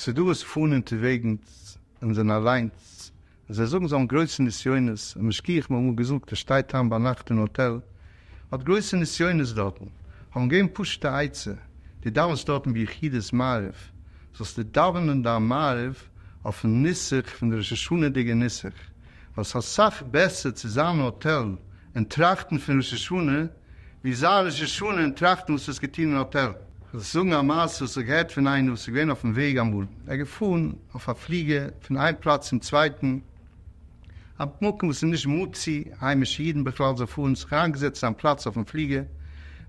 ס'איז דא וואס פארן אין טובעגנס און זענען אליינס, און זיי זאגן זיי האבן גרויסע נסיונות, א משגיח מ'האט אמאל געזאגט ער שטייט איין ביינאכט אין האטעל, האט גרויסע נסיונות דארטן, האבן געבן פשוטע עצה, דו דאווענסט דארטן ביחידות מעריב, זאלסטו דאווענען דיין מעריב אויפן נוסח פון די ראש השנה'דיגע נוסח, ווייל ס'איז אסאך בעסער צו זיין אין האטעל און טראכטן פון ראש השנה ווי זיין ראש השנה און טראכטן וואס האסט געטון אין האטעל. כ'וועל דיך זאגן א מעשה וואס איך געהערט פון איינער וואס איז געווען אויפן וועג אמאל, ער איז געפארן אויף א פליגער פון איין פלאץ צום צווייטן, א מקום וואס איז נישט מוציא היימישע אידן בכלל זיך פארן, זיך אריינגעזעצט אין זיין פלאץ אויפן פליגער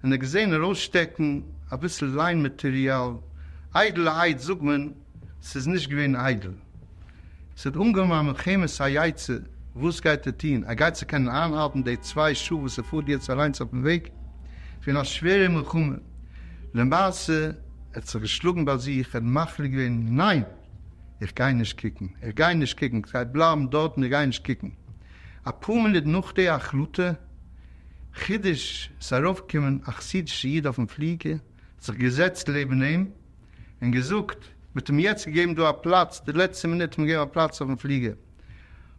און ער האט געזען ארויסשטעקן אביסל ליין מאטריאל, איידל א אייד זאג מען, ס'איז נישט געווען איידל. ס'האט אנגעהויבן א מלחמת היצר, וואס גייט ער טון? ער גייט צו קענען איינהאלטן די צוויי שעה וואס ער פארט יעצט אליינס אויפן וועג פון א שווערע מלחמה? למעשה ער האט זיך געשלאגן ביי זיך, ער האט מחליט געווען, ניין! איך גיי נישט קוקן, איך גיי נישט קוקן, איך גיי בלייבן דארטן, איך גיי נישט קוקן. אפאר מינוט נאך די החלטה, חידוש, איז ארויפגעקומען א חסידישע איד אויפן פליגער, זיך געזעצט לעבן אים און געזאגט, מ'האט אים יעצט געגעבן דא א פלאץ, די לעצטע מינוט האט מען געגעבן א פלאץ אויפן פליגער,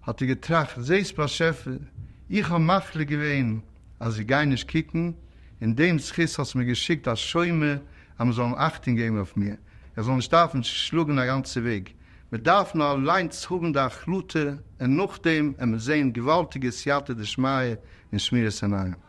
האט ער געטראכט, זעסט באשעפער, איך האב מחליט געווען אז איך גיי נישט קוקן, אין דעם זכות האסטו מיר געשיקט א שומר אז מען זאל אים אכטונג געבן אויף מיר, איך זאל נישט דארפן שלאגן א גאנצע וועג, מען דארף נאר אליינס האבן די החלטה און נאכדעם וועט מען זען געוואלדיגע סייעתא דשמיא און שמירת עיניים.